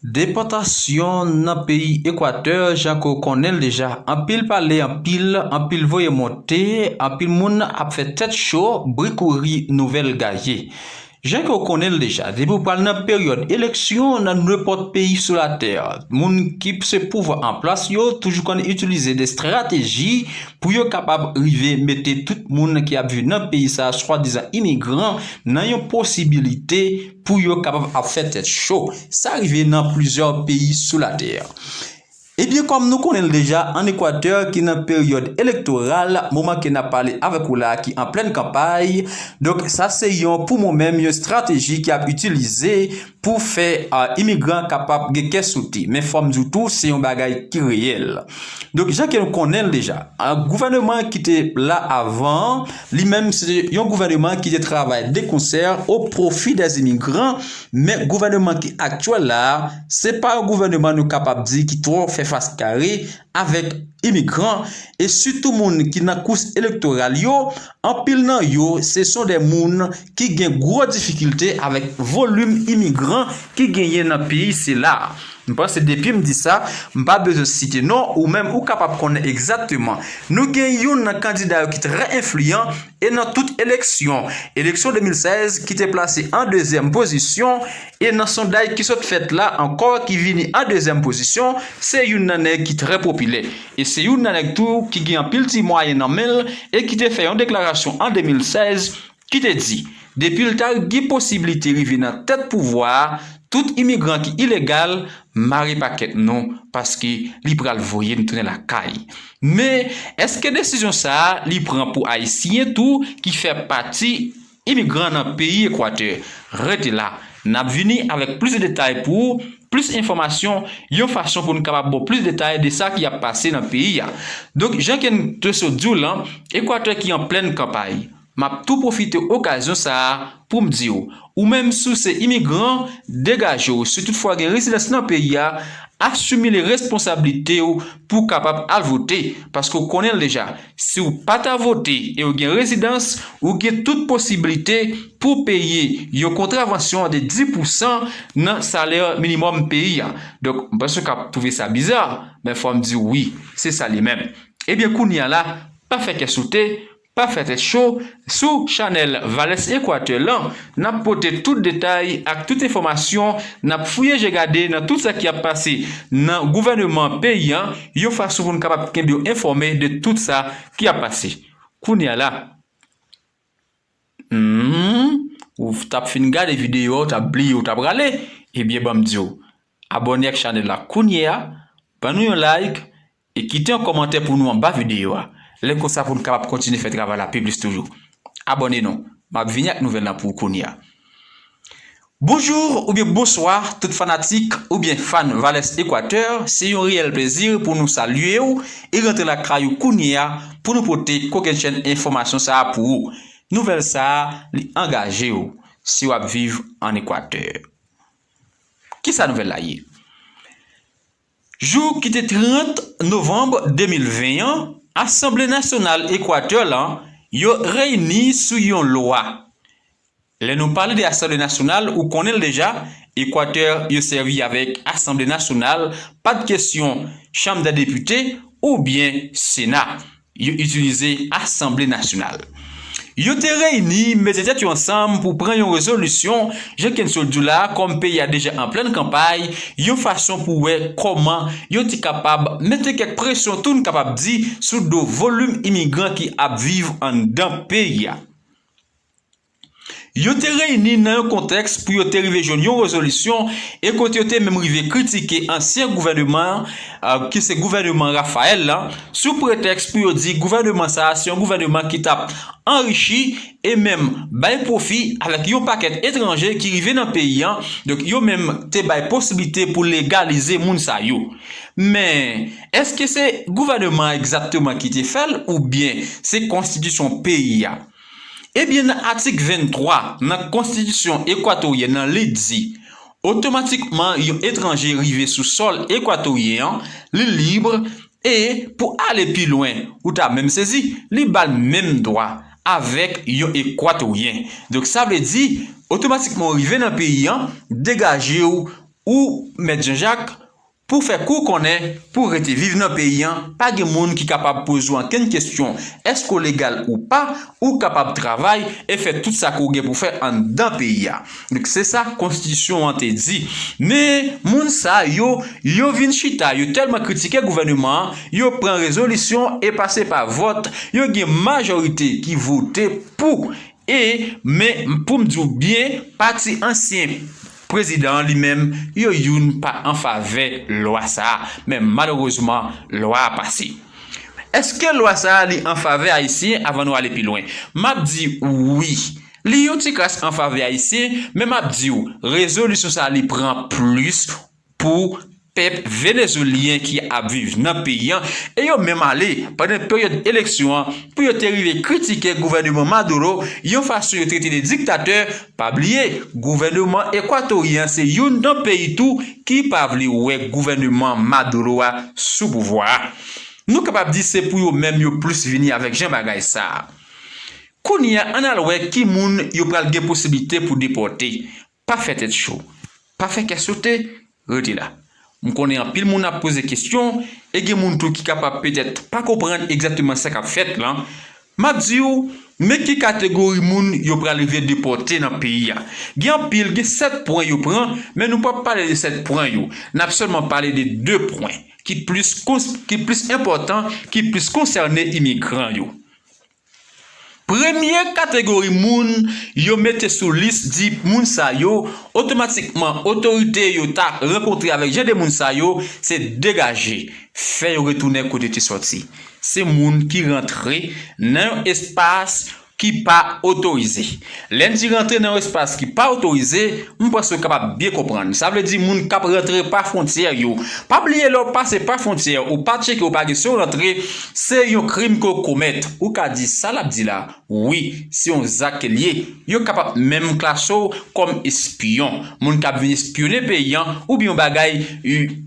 Depòtasyon nan peyi Ekwatè jan ke w konnen l deja, anpil pale anpil, anpil voye monte, anpil moun ap fè tèt cho, bri kouri, nouvèl gaye. Jan ke w konnen l deja, depi w pral nan peryòd eleksyon nan nenpòt peyi sou latè, moun ki se pouvwa an plas yo toujou konn itilize de strateji pou yo kapab rive mete tout moun ki ap viv nan peyi sa swadizan imigran nan yon posibilite Pou yo kapab ap fè tèt cho. Sa rive nan plizyè peyi sou latè. Ebyen kòm nou konnen l deja an Ekwatè ki nan peryòd elektoral, moman ke n ap pale avèk ou la a ki an plèn kanpay, donk sa se yon pou mwen menm yon estrateji ki ap itilize pou fè imigran kapab gen kè sote. Men fò m di w tou se yon bagay ki reyèl. Donk jan ke nou konnen l deja, gouvèneman ki te la avan an, Li menm se yon gouvèneman ki te travay de konsè o pwofi dè imigran, men gouvèneman ki aktyèl la a, se pa yon gouvèneman nou kapab di ki twò fè fas kare avèk imigran, e sitou moun ki nan kous elektoral yo, anpil nan yo se son dè moun ki gen gwo difikilte avèk volim imigran ki genyen nan peyi sila a. M panse depi m di sa, m pa bezwen site non, ou menm ou kapab konnen egzakteman. Nou gen youn nan kandida yo ki trè enfliyan e nan tout eleksyon, eleksyon 2016 ki te plase an dezyèm pozisyon e nan sondaj ki sot fèt la ankò ki vini an dezyèm pozisyon, se youn nan nèg ki trè popilè e se youn nan nèg tou ki gen anpil ti mwayen nan men l e ki te fè yon deklarasyon an 2016, ki te di depi l ta gi posiblite rive nan tèt pouvwa a tout imigran ki ilegal mare pakèt nou paske li pral voye n tounen lakay men eske desizyon sa a li pran pou ayisyen tou ki fè pati imigran nan peyi ekwatè rete la n ap vini avèk plis detay pou ou plis enfòmasyon yon fason pou n kapab ba w plis detay de sa ki ap pase nan peyi a donk jan ke n te sot di w lan ekwatè ki an plèn kanpay. Map tou pwofite okazyon sa a poum diw, ou menm si w se imigran, degaje w, si tout fwa gen rezidans nan peyi a, asumile responsablite w pou w kapab al vote, paske w konnen l deja, si w pa ta vote e w gen rezidans, ou gen tout posibilite pou w peye yon kontravansyon de 10 pou san nan salè minimòm peyi a. Donk, m panse w ka twouve sa biza, men fòm diw wi, se sa li menm. Ebyen kounya la, pa fè kè sote, Pa fè tèt cho, sou chanèl Valès Ekwatè lan, n ap pote tout detay ak tout enfòmasyon, n ap fouye je gade nan tout sa ki ap pase nan gouvèneman peyi an, yon fason pou n kapab kenbe w enfòme de tout sa ki ap pase. Kounye a la, humm, ou t ap fin gade videyo a, ou t ap bliye ou t aprale, ebyen ban m di w, abòne ak chanèl la kounye a, ban nou yon like, E kite yon kòmantè pou nou anba videyo a. Lè konsa pou nou kapab kontinye fè travay la pi plis toujou. Abòne nou. M ap vini ak nouvèl la pou ou kounya. Bonjour oubyen bonswa tout fanatik oubyen fan Valès Equateur, se yon reyèl plezi pou nou salye ou e rantre lakay ou kounye a pou nou pote kokennchenn enfòmasyon sa a pou ou. Nouvèl sa a li angaje ou si w ap viv an Equateur. Kisa nouvèl la ye? Jou ki te 30 novanm 2020 an, Asanble Nasyonal Ekwatè la yo reyini sou yon lwa. Lè nou pale de Asanble Nasyonal, ou konnen l deja, Ekwatè yo sèvi avèk Asanble Nasyonal, pa t kesyon Chanm dè Depite oubyen Sena. Yo itilize Asanble Nasyonal. Yo te reyini, mete tèt yo ansanm pou pran yon rezolisyon, jan Kenseau di w la, kòm peyi a deja an plenn kanpay, yon fason pou wè kòman yo te kapab mete kèk presyon tou n kapab di sou do volim imigran ki ap viv anndan peyi a. Yo te reyini nan yon kontèks pou yo te rive jwenn yon rezolisyon e kote yo te menm rive kritike ansyen gouvèneman an, ki se gouvèneman Rafael la, sou pretèks pou yo di gouvèneman sa a se yon gouvèneman ki t ap anrichi e menm bay pwofi avèk yon pakèt etranje ki rive nan peyi an, donk yo menm te bay posiblite pou legalize moun sa yo. Men, èske se gouvèneman an egzakteman ki te fè l oubyen se konstitisyon peyi a? Ebyen nan atik 23 nan konstitisyon Ekwatoryen an li di otomatikman yon etranje rive sou sòl Ekwatoryen an li lib e pou ale pi lwen ou ta menm sezi li ba l menm dwa avèk yon Ekwatoryen donk sa vle di otomatikman ou rive nan peyi an degaje w ou mèt Janjak Pou fè kou konnen, pou w rete viv nan peyi an, pa gen moun ki kapab poze w ankenn kesyon, èske w legal ou pa, ou kapab travay e fè tout sa ke w gen pou fè anndan peyi a. Donk se sa konstitisyon an te di. Men, moun sa yo, yo vin chita, yo tèlman kritike gouvèneman an, yo pran rezolisyon e pase pa vòt, yo gen majorite ki vote pou e, men, pou m di w byen, pati ansyen. Prezidan an li menm, yo youn pa an favè lwa sa a, men malerezman lwa a pase. Eske lwa sa a li an favè Ayisyen avan nou ale pi lwen? M ap di ou wi. Li yon ti kras an favè Ayisyen, men m ap di ou rezolisyon sa a li pran plis pou pèp venezwelyen ki ap viv nan peyi an e yo menm ale pandan peryòd eleksyon an pou yo te rive kritike gouvèneman Maduro yon fason yo trete de diktatè, pa bliye gouvèneman ekwatoryen an se youn nan peyi tou ki pa vle wè gouvèneman Maduro a sou pouvwa a. Nou kapab di se pou yo menm yo plis vini avèk jan bagay sa a. Kounye a ann al wè ki moun yo pral gen posiblite pou depòte, Pa fè tèt cho. Pa fè kè sote. Rete la. M konnen anpil moun ap poze kesyon e gen moun tou ki kapab petèt pa konprann egzakteman sa k ap fèt lan. M ap di ou, men ki kategori moun yo pral rive depòte nan peyi a. Gen anpil, gen 7 pwen yo pran, men nou p ap pale de 7 pwen yo. N ap sèlman pale de 2 pwen ki plis enpòtan, ki plis konsène imigran yo. Premye kategori moun yo mete sou lis di moun sa yo, otomatikman otorite yo ta rankontre avèk jan de moun sa yo, se degaje, fè yo retounen kote yo te sòti. Se moun ki rantre nan yon espas ki pa otorize. Lè n di rantre nan yon espas ki pa otorize, m panse ou kapab byen konprann. Sa vle di moun k ap rantre pa fwontyè yo. Pa bliye lè w pase pa fwontyè, ou pa tcheke ou pa gen sou rantre, se yon krim ke w komèt. Ou ka di sa l ap di la, wi, se yon zak ke l ye. Yo kapab menm klase w kòm espyon, moun k ap vin espyone peyi an oubyen yon bagay,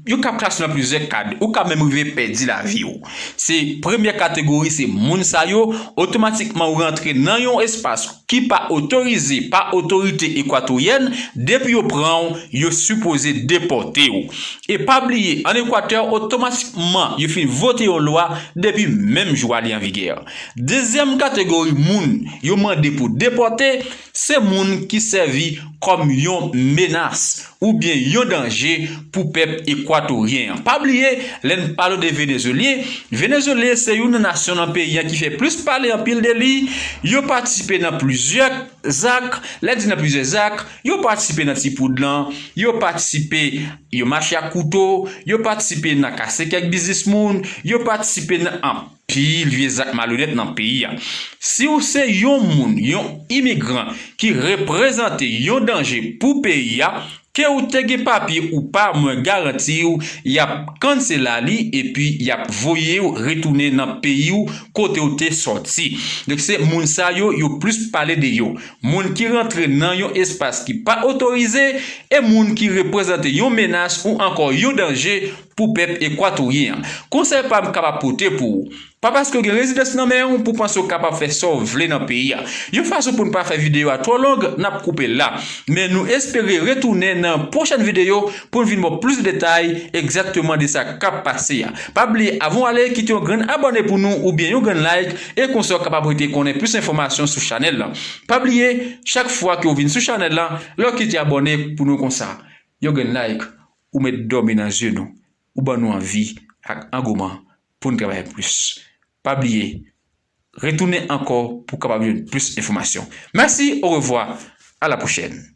yo kab klase w nan plizyè kad. Ou ka menm rive pèdi lavi w. Se premye kategori se moun sa yo, otomatikman ou rantre nan yon espas ki pa otorize pa otorite ekwatoryèn, depi yo pran w, yo sipoze depòte w. E pa bliye an Ekwatè otomatikman yo fin vote yon lwa depi menm jou a li an vigè. Dezyèm kategori moun yo mande pou depòte, se moun ki sèvi kòm yon menas, oubyen yon danje pou pèp Ekwatoryen an. Pa bliye, lè n pale de Venezyelyen, Venezyelyen se youn nan nasyon nan peyi an ki fè plis pale anpil de li, yo patisipe nan plizyè zak, lè n di nan plizyè zak, yo patisipe nan ti poud lan, yo patisipe, yo mache ak kouto, yo patisipe nan kase kèk biznis moun, yo patisipe nan. Pi vye zak malonèt nan peyi a. Si w se yon moun, yon imigran ki reprezante yon danje pou peyi a, ke w te gen papye ou pa mwen garanti w y ap cancela li epi y ap voye w retounen nan peyi w kote w te sòti. Donk se moun sa yo yo plis pale de yo. Moun ki rantre nan yon espas ki pa otorize e moun ki reprezante yon menas ou ankò yon danje pou pèp Ekwatoryen an. Konsèy pa m kab ap pote pou ou, pa paske w gen rezidans nan men w pou w panse w kapab fè sa w vle nan peyi a. Yon fason pou n pa fè videyo a twò long, n ap koupe l la. Men nou espere retounen nan pwochèn videyo pou n vin ba w plis detay egzakteman de sa k ap pase a. Pa bliye avan w ale kite yon grenn abòne pou nou oubyen yon grenn like e konsa w kapab rete konnen plis enfòmasyon sou chanèl lan. Pa bliye chak fwa ke w vin sou chanèl lan lè w kite abòne pou nou konsa, yon grenn like Ou met dòmi nan zye nou, ou ban nou anvi ak angouman pou n travay plis. Pa bliye retounen ankò pou w kapab jwenn plis enfòmasyon. Mèsi, orevwa, alapwochèn!